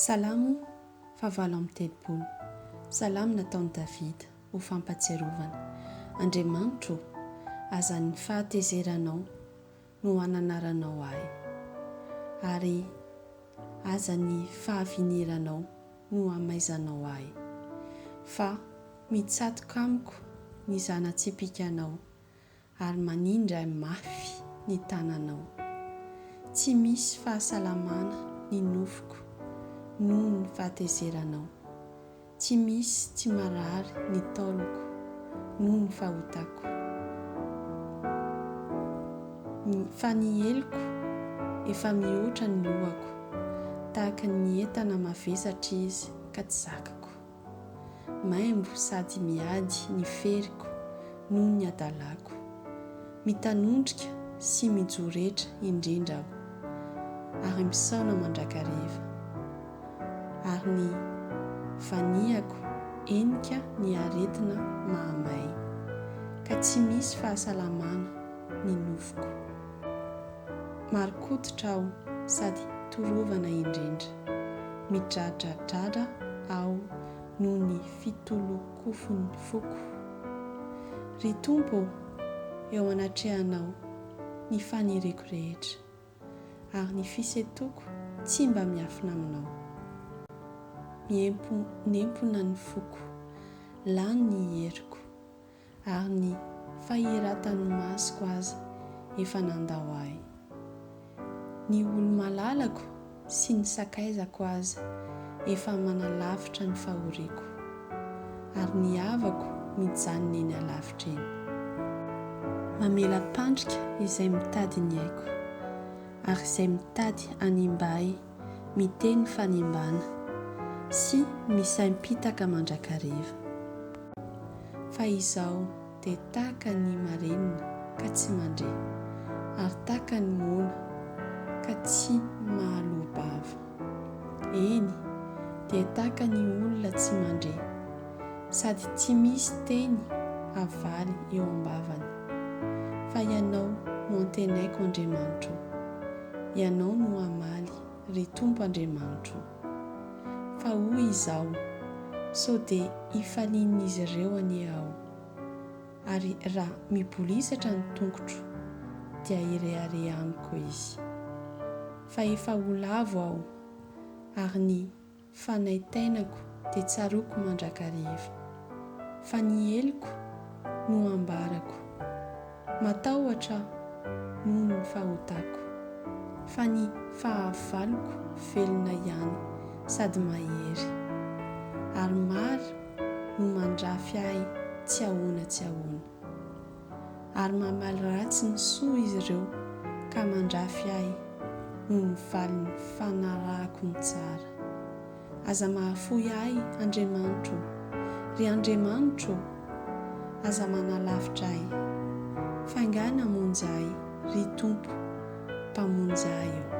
Salamo fahavalo amby telopolo. Salamo nataon'i Davida ho fampatsiarovana. Andriamanitro ô, aza ny fahatezeranao no hananaranao ahy, ary aza ny fahaviniranao no hamaizanao ahy, fa mitsatoka amiko ny zana-tsipikanao, ary manindra mafy ny tananao. Tsy misy fahasalamana ny nofoko noho ny fahatezeranao. Tsy misy tsy marary ny taoloko noho ny fahotako. Fa ny heloko efa mihoatra ny lohako, tahaka ny entana mavesatra izy ka tsy zakako. Maimbo sady miady ny feriko noho ny adalako. Mitanondrika sy mijoretra indrindra aho, ary misaona mandrakareva. Ary ny vaniako henika ny aretina mahamay, ka tsy misy fahasalamana ny nofoko. Marin-koditra aho sady torovana indrindra. Midradradradra aho noho ny fitolonkofon'ny foko. Ry Tompo ô, eo anatrehanao ny faniriako rehetra, ary ny fisentoako tsy mba miafina aminao. Miemponempona ny foko, lany ny heriko. Ary ny fahiratan'ny masoko aza efa nandao ahy. Ny olo-malalako sy ny sakaizako aza efa manalavitra ny fahoriako, ary ny havako mijanona eny alavitra eny. Mamela-pandrika izay mitady ny aiko, ary izay mitady hanimba ahy miteny fanembana sy misaimpitaka mandrakariva. Fa izao dia taka ny marenina ka tsy mandre, ary taka ny moana ka tsy mahaloa-bava. Eny, dia taka ny olona tsy mandre, sady tsy misy teny havaly eo am-bavany. Fa Ianao no antenaiko Andriamanitro. Ianao no hamaly, ry Tompo Andriamanitro o. Fa hoy izaho, Sao dia hifalian'izy ireo anie aho? Ary raha mibolisatra ny tongotro, dia hirehareha amiko izy. Fa efa ho lavo aho, ary ny Fa nay tainako dia tsaroako mandrakariva. Fa ny heloko no ambarako. Matahotra aho noho ny fahotako. Fa ny fahavaloko velona ihany sady mahery. Ary maro no mandrafy ahy tsy ahoana tsy ahoana. ary mamaly ratsy ny soa izy ireo ka mandrafy ahy noho ny valiny fanarahako ny tsara. Aza mahafoy ahy, Andriamanitro ô! Ry Andriamanitro ô! Aza manalavitra ahy. Faingàna hamonjy ahy, ry Tompo, Mpamonjy ahy ô!